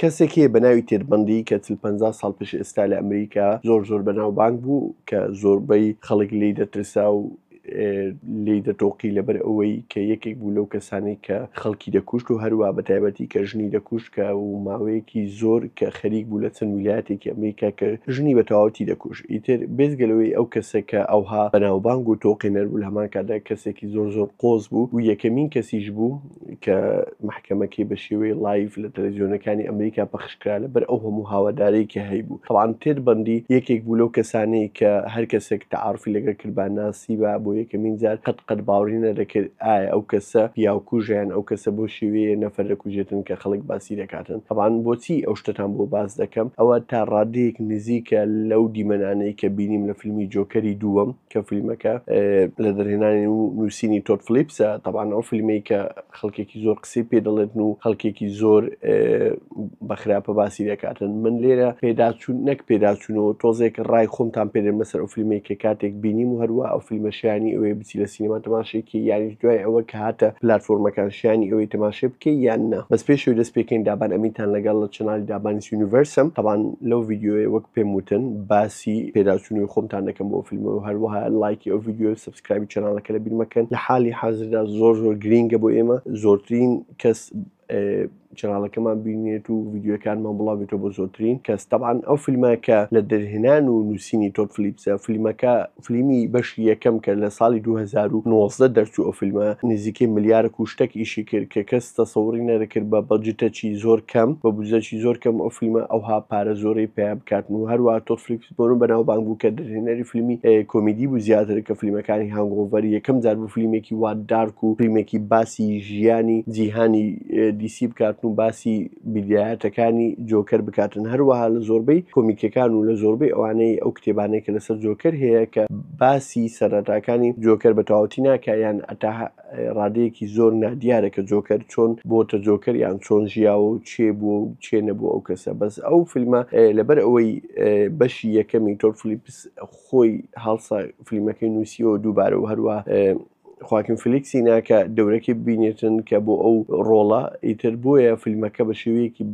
کەسێک هەیە بەناوی تێد بەندی کە چل پەنجا ساڵ پێش ئێستا لە ئەمریکا زۆر زۆر بەناوبانگ بوو کە زۆربەی خەڵک لێی دەترسا و لێی دەتۆقی لەبەر ئەوەی کە یەکێک بوو لەو کەسانی کە خەڵکی دەکوشت و هەروە بە تایبەتی کە ژنی دەکوشت کە و ماوەیەکی زۆر کە خەریک بوو لە چەند ویلایەتێکی ئەمریکا کە ژنی بە تەواوەتی دەکوش ئیتر بێزگەلەوەی ئەو کەسە کە ئەوها بەناوبانگ و تۆقێنەر بوو لە هەمان کاتدا کەسێکی زۆر زۆر قۆز بوو و یەکەمین کەسیش بوو کە مەحکەمەکەی بە شێوەی لایڤ لە تەلەزیۆنەکانی ئەمریکا پەخشکرا لە بەر ئەو هەموو هاوادارەی کە هەیبوو تەوان تێت بەندی یەکێک بوو لەو کەسانەی کە هەر کەسێک تەعاعرفی لەگەر کردبا ناسیبا بۆ یەکەمین جار قەت قەت باوری نەدەکرد ئایا ئەو کەسە پیاوکوژە یان ئەو کەسە بۆ شێوەیە نەفەر دەکوژێتن کە خەڵک باسی دەکاتن تەوان بۆچی ئەو شتەتان بۆ باس دەکەم ئەوە تا ڕادەیەک نزیکە لەو دیمەنانەی کە بینیم لە فیلمی جۆکەری دووەم کە فلیمەکە لە دەرهێنانی و نووسینی تۆت فلیپسە تەبان ئەو فلیمەی کە خەڵکێکی زۆر قسەی پێ دەڵێتن و خەڵکێکی زۆر بەخراپە باسی دەکاتن من لێرە پێداچوون نەک پێداچوونەوە تۆزێک ڕای خۆمتان پێێ مەسەر ئەو فلیمەی کە کاتێک بینیم و هەروە ئەو فلیمەشیانی ئەوەی بچی لە سینەما تەماشێکی یانی دوای ئەوە کە هاتە پلتفۆرمەکان شیانی ئەوەی تەماشێ بکەی یان نا بەس پێشوی دەست پێکەین دابان ئەمینتان لەگەڵ لە چنالی دابانی یونیڤرسم تەبان لەو یددیوەیە وەک پێم وتن باس مەترسی پێداچونی خۆمتان دەکەم بۆ فیلم و هەروەها لایکی ئەو ڤیددیو سبسکرایبی چناڵەکە لە بیرمەکەن لە حالی حازردا زۆر زۆر گرینگە بۆ ئێمە زۆرترین کەس چناڵەکەمان بینێت و ڤیددیوەکانمان بڵاوێتەوە بۆ زۆترین کەس تەبان ئەو فیلمەکە لە دەرهێنان و نووسینی تۆپ فلیپسە فیلمەکە فلیمی بەشی یەکەم کە لە ساڵی 2019 دەرچوو ئەو فیلمە نزیکەی ملیارە کوشتەک ئیشی کرد کە کەس تەسەوڕی نەدەکرد بە بەجتەچی زۆر کەم بە بوجەچی زۆر کەم ئەو فیلمە ئەوها پارە زۆرەی پەیا بکاتن و هەروەها تۆد فلیکس بۆنو بەناوبانگ بوو کە دەرهێنەری فیلمی کۆمیدی بوو زیاتر کە فیلمەکانی هانگۆڤەر یەکەم جار بوو فیلمێکی وا دارک و فیلمێکی باسی ژیانی جیهانی دی سی بکاتن و باسی بیدایەتەکانی جۆکەر بکاتن هەروەها لە زۆربەی کۆمیکەکان و لە زۆربەی ئەوانەی ئەو کتێبانەی کە لەسەر جۆکەر هەیە کە باسی سەرەتاکانی جۆکەر بە تەواوەتی ناکا یان ئەتا ڕادەیەکی زۆر نادیارە کە جۆکەر چۆن بۆتە جۆکەر یان چۆن ژیاوە و چێ بووە و چێ نەبوو ئەو کەسە بەس ئەو فیلمە لەبەر ئەوەی بەشی یەکەمی تۆر فلیپس خۆی هەڵسا فیلمەکەی نووسیەوە دووبارە و هەروە خواکن فلیکسی ناکە دەورەکەی ببینێتن کە بۆ ئەو ڕۆڵە ئیتر بۆیە فیلمەکە بە شێوەیەکی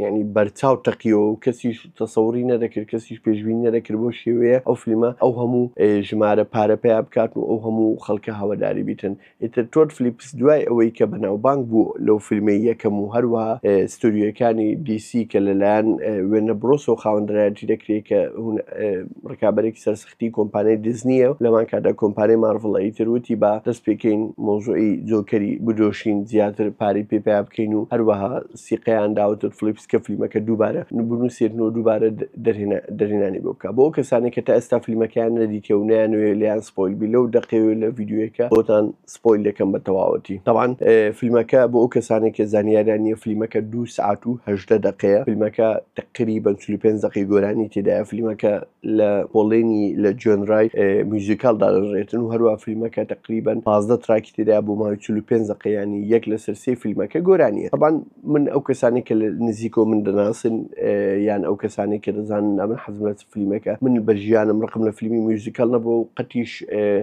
ینی بەرچاو تەقیەوە و کەسیش تەسەوری نەدەکرد کەسیش پێشبینی نەدەکرد بەو شێوەیە ئەو فلیمە ئەو هەموو ژمارە پارە پیا بکات و ئەو هەموو خەڵکە هەواداری بیتن ئیتر تۆد فلیپس دوای ئەوەی کە بەناوبانگ بوو لەو فیلمەی یەکەم و هەروەها ستۆریۆیەکانی دی سی کە لەلایەن وێنە برۆسەوە خاوەندرایەتی دەکرێت کە ڕکابەرێکی سەر کتی کۆمپانیای دیزنیە و لەمان کاتدا کۆمپانیای مارڤڵە ئیتر وتی با دەست پێکەین مەوزوعی جۆکەری بدۆشین زیاتر پارەی پێ پەیا بکەین و هەروەها سیقەیان دا وتن فڵیپس کە فلیمەکە دووبارە بنوسێتن و دووبارە دەرهێنا دەرهێنانی بۆ بکا بۆ ئەو کەسانەی کە تا ئێستا فلیمەکەیان نەدیتیە و نەیانەوێ لێیان سپۆیل بی لەو دەقەی و لە ڤیدیۆیەکە بۆتان سپۆیل دەکەم بە تەواوەتی تاوان فیلمەکە بۆ ئەو کەسانێک کە زانیاریان نیە فیلمەکە دو سعات و هەژدە دقەیە فیلمەکە تقری بە چلی پێنج دقی گۆرانی تێدایە فیلمەکە لە پۆڵێنی لە جۆنرای میوزیکال دادەڕێتن و هەروە فیلمەکە تقریبن پازدە تراکی تێدا بۆ ماوەی چل پێنج دقەیانی یەک لە سەرسی فیلمەکە گۆرانیە تاوان من ئەو کەسانی کە لە نزیکۆ من دەناسن یان ئەو کەسانی کە دەزانن ئەمن حەزم لە فلیمەکە من بە ژیانم ڕقم لە فلیمی میوزیکال نەبوو و قەتیش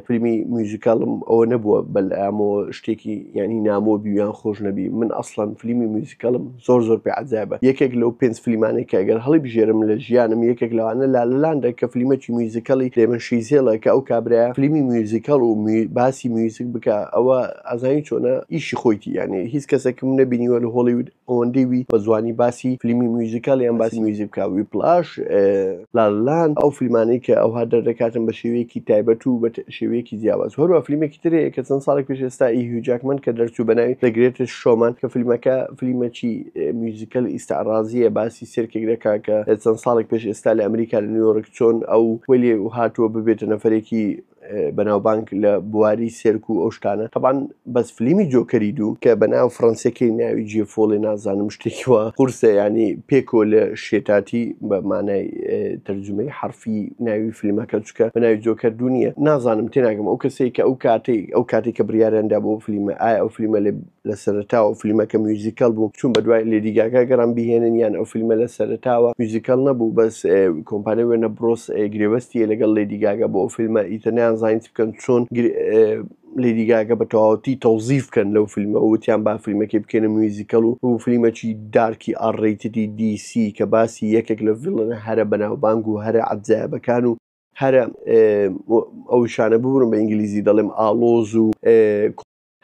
فلیمی میوزیکالم ئەوە نەبووە بەلامۆ شتێکی ینی نامۆ بیویان خۆش نەبی من ئەسڵەن فلیمی میوزیکالم زۆر زۆر پێ عجابە یەکێک لەو پێنج فلیمانێک کە ئەگەر هەڵی بژێرم لە ژیانم یەکێک لەوانە لا لەلاندە کە فلیمەکی میوزیکالی لێمە شیزێڵە کە ئەو کابراە فلیمی میوزیکال و باسی میوزیک بکە ئەوە ئازانی چۆنە ئیشی خۆیتی یانێ هیچ کەسێکم نەبینیوە لە هۆڵیود ئەوەندەی وی بە جوانی باسی فلیمی میوزیکال یان باسی میوزیک بکا ویپلاش لالالاند ئەو فلیمانەی کە ئەوها دەردەکاتن بە شێوەیەکی تایبەت و بە شێوەیەکی جیاواز هەروە فلیمێکی تر هەیە کە چەند ساڵێک پێش ئێستا ئی هیو جاکمەن کە دەرچوو بە ناوی The Greatest Showman کە فلیمەکە فلیمەکی میوزیکەل ئیستعرازیە باسی سێرکێک دەکا کە چەند ساڵێک پێش ئێستا لە ئەمریکا لە نیویۆرک چۆن ئەو وەلی هاتووە ببێتە نەفەرێکی بەناوبانگ لە بواری سێرک و ئەو شتانە تەبان بەس فلیمی جۆکەری دوو کە بەناو فڕەنسیەکەی ناوی جیە فۆڵێ نازانم شتێکیوە قورسە ینی پێکۆ لە شێتاتی بە مانای تەرجمەی حرفی ناوی فلیمەکە چکە بەناوی جۆکەر دوو نیە نازانم تێناگەم ئەو کەسێک کە ئەو کاتێک ئەو کاتێک کە بریارەندا بۆ فلیمە ئایا ئەو فلیمە لە لە سەرەتاوە ئەو فیلمەکە میوزیکەل بوو چون بە دوای لێدی گاگا گەڕان بهێنن یان ئەو فیلمە لە سەرەتاوە میوزیکەل نەبوو بەس کۆمپانە وێنە بڕۆس گرێبەستیە لەگەڵ لێدی گاگا بۆ ئەو فیلمە ئیتە نیان زانیت بکەن چۆن لێدی گاگە بە تەواوەتی تەوزیف بکەن لەو فیلمە وتیان با فیلمەکەی بکەنە میوزیکەڵ و بۆ فیلمەکی دارکی ئاڕێتدی دیسی کە باسی یەکێک لە ڤڵنە هەرە بەناوبانگ و هەرە عەبزایەبەکان و هەرە ئەو شانە ببوون بە ئینگلیزی دەڵێم ئاڵۆز و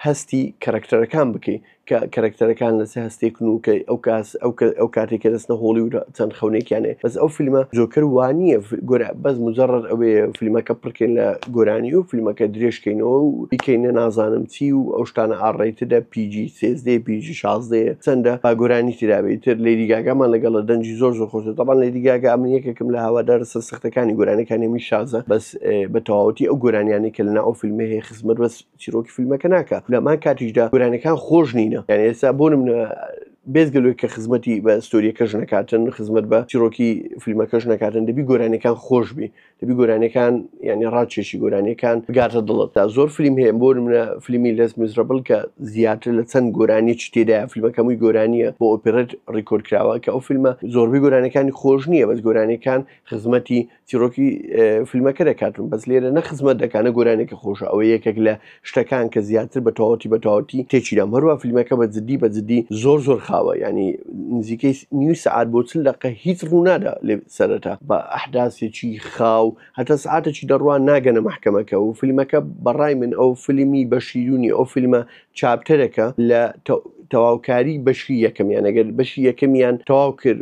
هەستی کەرەکتەرەکان بکەی کە کەرەکتەرەکان لەسەر هەستێک نوکەی ئەو کاس ئەو ئەو کاتێک کە دەستە هۆڵی و چەند خەونێکیانێ بەس ئەو فیلمە جۆکر وانە گۆرە بەس مجرڕ ئەوێ فیلمەکە پڕکەین لە گۆرانی و فیلمەکە درێژکەینەوە و بیکەینە نازانم چی و ئەو شتانە ئاڕێتدە پیجی سێزدەی پیجی شازدەیە چەندە با گۆرانی تراوی تر لێریگاگەمان لەگەڵە دەنجی زۆر زۆر خۆش دەبان لێریگاگە ئەمن یەکێکم لە هاوادار سەر سەختەکانی گۆرانەکانی میشازە بەس بە تەواوەتی ئەو گۆرانیانی کە لەنا ئەو فیلمێ خزمەت بەس چیرۆکی فیلمەکە ناکا لەمان کاتیشدا گورانەکان خۆش نینە یان ئێستا بۆ منە بێزگەلوێک کە خزمەتی بە ستۆریەکەش نکاتن خزمەت بە چیرۆکی فیلمەکەش نکاتن دەبی گۆرانەکان خۆش بی دەبی گۆرانەکان ینی ڕادچێشی گۆرانەکان بگاتە دڵت تا زۆر فیلم هەیە بۆ منە فیلمی لەس میزرەبل کە زیاتر لە چەند گۆرانی چ تێدا فیلمەکەمووی گۆرانیە بۆ ئۆپرێت ڕیکۆرد کراوە کە ئەو فیلمە زۆربەی گۆرانەکانی خۆش نییە بەس گۆرانەکان خزمەتی چیرۆکی فیلمەکە دەکاتون بەس لێرە نە خزمەت دەکانە گۆرانێکی خۆشە ئەوە یەکێک لە شتەکان کە زیاتر بە تەواتی بە تەواتی تێچیرام هەروە فیلمەکە بە جددی بە جددی زۆر زۆر خاوە ینی نزیکەی نیو سعات بۆ چل دقە هیچ ڕوونادا لێ سەرەتا بە ئەحداسێکی خاو هەتا سعاتێکی دەڕوان ناگەنە مححکەمەکە و فیلمەکە بەڕای من ئەو فیلمی بە شیرونی ئەو فیلمە چاپتەرەکە لە تەواوکاری بەشی یەکەمیان ئەگەر بەشی یەکەمیان تەواو کرد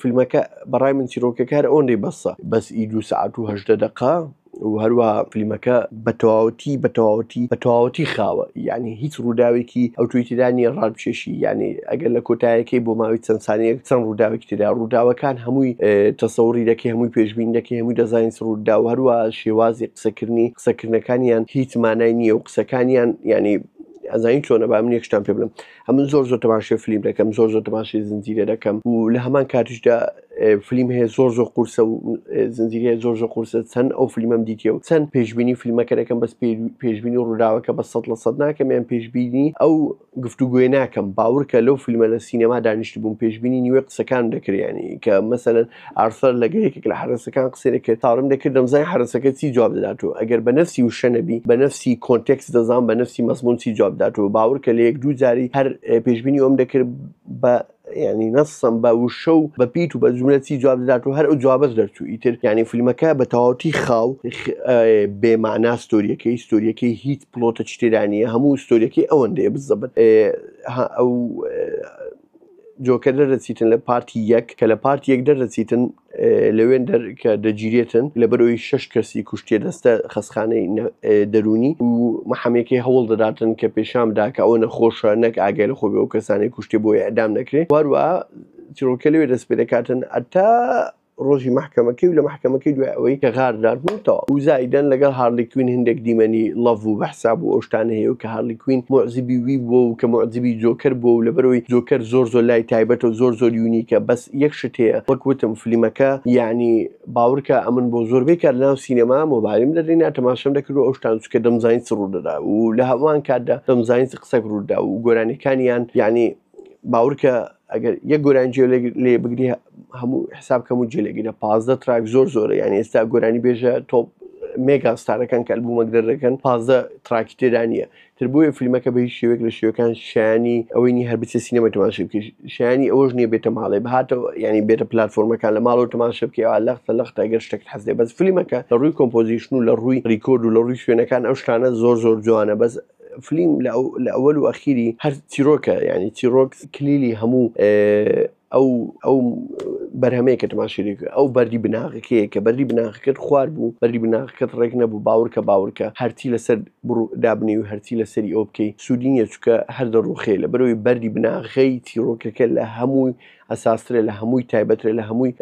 فیلمەکە بەڕای من چیرۆکەکار ئۆنری بەسە بەس ئی دو سعات و هەژدە دقا و هەروە فیلمەکە بە تەواوەتی بە تەواوەتی بە تەواوەتی خاوە یعنی هیچ ڕووداوێکی ئەو توی تیرانی ڕادچێشی یعنی ئەگەر لە کۆتایەکەی بۆ ماوەی چەند سانەیەک چەند ڕووداوێکی تررا ڕووداوەکان هەمووی تەسەوری دەکەی هەمووی پێشبین دەکەی هەمووی دەزانین ڕوودا و هەروە شێوازی قسەکردنی قسەکردنەکانیان هیچ مانای نییە و قسەکانیان ینی ئەزانین چۆنە با من یەکشتان پێ بڵم ئەمن زۆر زۆر تەماشێ فلیم دەکەم زۆر زۆر تەماشی زنجیرە دەکەم و لە هەمان کاتیشدا فلیم هەیە زۆر زۆر قورسە و زنجیرە زۆر زۆر قورسە چەند ئەو فلیمەم دیتە و چەند پێشببینی فیلمەکە دەکەم بەس پێشببینی ڕووداوەکە بە سە لە سەد ناکەم یان پێشببینی ئەو گفتوگوێ ناکەم باورکە لەو فیلمە لە سینەما دانیشت بووم پێشببینی نیوە قسەکان دەکریانی کە مەسەن ئارثەر لەگەڵ یەکێک لە حەرەسەکان قسەی دەکرد تاڕم دەکرد دەمزانی حەرەسەکە چی جواب دەداتەوە ئەگەر بە نەفسی وشە نەبی بە نەفسی کۆنتێکس دەزان بە نەفسی مەزمون چی جواب داتەوە باور کە لە یەک دوو جاری هەر پێشبینی ئەوم دەکرد بە ینی نەسم بە وشە و بە پیت و بە جملە چی جواب دەدات و هەر ئەو جوابەت دەرچوو ئیتر ینی فیلمەکە بە تەواوتی خاو بێمانا ستۆریەکەی ستۆریەکەی هیچ پلۆتە چتێرانە هەموو ستۆریەکەی ئەوەندەیە بزەبن ئەو جۆکە دەردەچیتن لە پارتی یەک کە لە پارتی یەک دەردەچیتن لەوێن دەر کە دەگیرێتن لەبەرەوەی شەش کەسی کوشتێ دەستە خەسخانەی دەروونی و محەمەکەی هەوڵ دەداتن کە پێشان بدا کە ئەوە نەخۆشە نەک ئاگای لە خۆبێ و کەسانی کوشتێ بۆ ئیعدام نەکرێ واروا چیرۆکە لەوێ دەست پێ دەکاتن هەتا ڕۆژی مەحکەمەکەی و لە مەحکەمەکەی دوای ئەوەی کە غاردار بوو تەوا و زایدەن لەگەڵ هارلی کوین هندێک دیمەنی ڵەڤ و بەحساب و ئەوشتانە هەیە و کە هارلی کوین موعجبی وی بووە و کە موعجبی جۆکەر بووە و لەبەرەوەی جۆکەر زۆر زۆر لای تایبەتە و زۆر زۆر یونیکە بەس یەک شت هەیە وەک وتم فلیمەکە یەعنی باوڕکە ئەمن بۆ زۆربەی کات لەناو سینەما مۆبایلم دەرهێنا تەماشەم دەکرد و ئەوشتان چونکە دەمزانی چ ڕوودەدا و لەهەمان کاتدا دەمزانی چ قسەک ڕووداو و گۆرانیەکانیان یەعنی باورکە ئەگەر یەک گۆرانی جێ لێ بگری هەموو حساب کەم و جێلێگرە پازدە تراک زۆر زۆرە یان ئێستا گۆرانی بێژە تۆپ مێگا ستارەکان کە بوومەک دەردەکەن پازدە تراکی تێدا نیە تر بۆیە فیلمەکە بە هیچ شێوێک لە شێوەکان شانی ئەوەی نی هەر بچێ سینەمە تماشە بکە شانی ئەوەش نیە بێتە ماڵێ بهاتەوە ینی بێتە پلتفۆرمەکان لە ماڵەوە تماشە بکەوە لەختە لەختە گەر شتێک حەزێ بەس فیلمەکە لە ڕووی کۆمپۆزیشن و لە ڕووی ڕیکۆرد و لە ڕووی شوێنەکان ئەو شتانە زۆر زۆر جوانە بەس فلیم لە ئەوەل و ئەخیری هەر چیرۆکە یعنی چیرۆک کلیلی هەموو ئەو ئەو بەرهەمەیە کە تماشێک ئەو بەری بناغەکەیە کە بەری بناغەکەت خوار بوو بەری بناغەکەت ڕێک نەبوو باورکە باورکە هەرچی لەسەر دابنی و هەرچی لەسەری ئەو بکەی سوودینە چکە هەر دەڕوخێ لە بەرەوەی بەری بناغەی چیرۆکەکە لە هەمووی ئەساسترە لە هەمووی تایبەترە لە هەمووی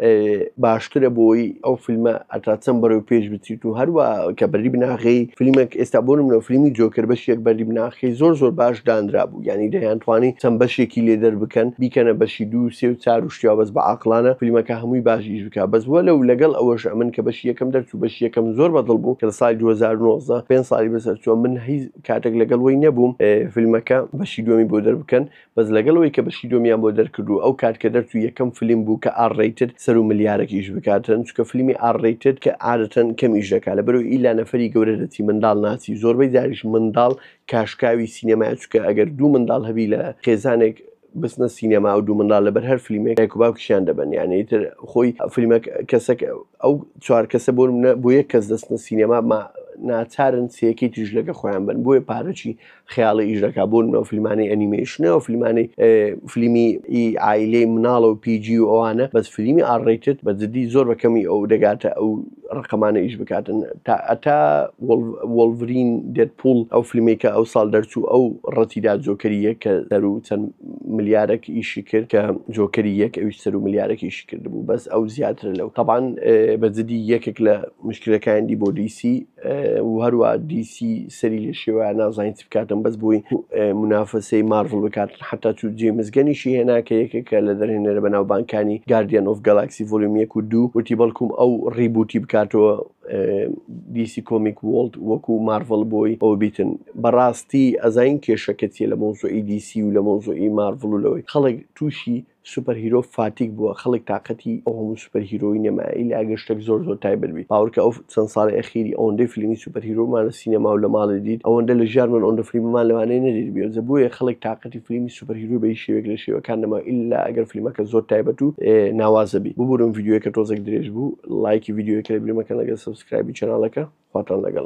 باشترە بۆی ئەو فیلمە ئەتاچەم بەرەو پێش بچیت و هەروە کە بەری بناغی فیلمێک ئێستا بۆ منەوە فیلمی جۆکر بەشێک بەری بناخی زۆر زۆر باش دانرا بوو ینی دەیانتوانی چەند بەشێکی لێ دەر بکەن بیکەنە بەشی دوو سێ و چار و شتیا بەس بە عقلانە فیلمەکە هەمووی باشیش بک بەس وە لەو لەگەڵ ئەوەش ئەمن کە بەشی یەکەم دەرچوو بەش یەکەم زۆر بەدڵ بوو کە سای 2009 پێ سای بەسەر چوە من هیچ کاتێک لەگەڵ وی نەبووم فیلمەکە بەشی دووەمی بۆ دەربکەن بەس لەگەڵ ئەوەی کە بەشی دووەمیان بۆ دەرکرد و ئەو کات کە دەرچوو یەکەم فلیم بوو کە ئار ڕەیتد سەروو ملیارەک ئیش بکاتن چونکە فلیمی ئار ڕەیتد کە عادەتەن کەم ئیش دەکا لەبەرو ئیلا نەفەری گەورە دەچی منداڵ ناچی زۆربەی جاریش منداڵ کاشکاوی سینەمایە چونکە ئەگەر دوو منداڵ هەبی لە خێزانێک بچنە سینەما ئەو دوو منداڵ لەبەر هەر فلیمێک دایک و باوکیشیان دەبەن یانی ئیتر خۆی فلیمەک کەسەک ئەو چوار کەسە بۆ نمونە بۆ یەک کەس دەچنە سینەما ما ناچارن سێیەکەی تریش لەگە خۆیان بن بۆیە پارەچی خەیاڵی ئیش دەکا بۆن بە فیلمانەی ئەنیمەیشنە و فیلمانەی فلیمی ئی ئایلەی مناڵە و پیجی و ئەوانە بەس فلیمی ئاڕێتت بە جدی زۆر بە کەمی ئەو دەگاتە ئەو ڕقەمانە ئیش بکاتن تا ئەتا وەڵڤرین دێت پوڵ ئەو فلیمێکە ئەو ساڵ دەرچوو ئەو ڕەتیدا جۆکەری یەک کە سەر و چەند ملیارێک ئیشی کرد کە جۆکەری یەک ئەوی سەر و ملیارێک ئیشی کرد بوو بەس ئەو زیاترە لەو تەبان بە جدی یەکێک لە مشکلەکانی بۆ دیسی و هەروا دی سی سەری لێ شێوایە نازانین چ بکاتن بەس بۆی منافەسەی مارڤڵ بکاتن حتا چوو جێمس گەنیشی هێنا کە یەکێکە لە دەرهێنەرە بەناوبانکانی گاردیان ئۆف گەلاکسی ڤۆلیوم یەک و دوو وتی بەڵکوم ئەو ڕیبووتی بکاتەوە دی سی کۆمیک وۆڵد وەکو مارڤڵ بۆی ئەوە بیتن بەڕاستی ئەزانین کێشەکە چیە لە مەوزوعی دی سی و لە مەوزوعی مارڤڵ و لەوەی خەڵک تووشی سوپەر هیرۆ فاتیگ بووە خەڵک تاقەتی ئەو هەموو سوپەر هیرۆی نەمایە ئیلا ئەگەر شتەک زۆر زۆر تایبەت بیت باوەرکە ئەو چەند ساڵی ئەخیری ئەوەندەی فلیمی سوپەر هیرۆمان لە سینەما و لە ماڵێ دیت ئەوەندە لە ژیانمان ئەوەندە فلیممان لەوانەیە نەدیت بێ جە بۆیە خەڵک تاقەتی فلیمی سوپەر هیرۆ بە هیچ شێوەیەک لە شێوەکان نەما ئیلا ئەگەر فلیمەکە زۆر تایبەت و ناوازە بیت ببورن ڤیدیۆیەکە تۆزێک درێژ بوو ڵایکی ڤیدیۆیەکە لەبیر مەکەن لەگەر سەبسکرایبی چەناڵەکە خواتان لەگەڵ.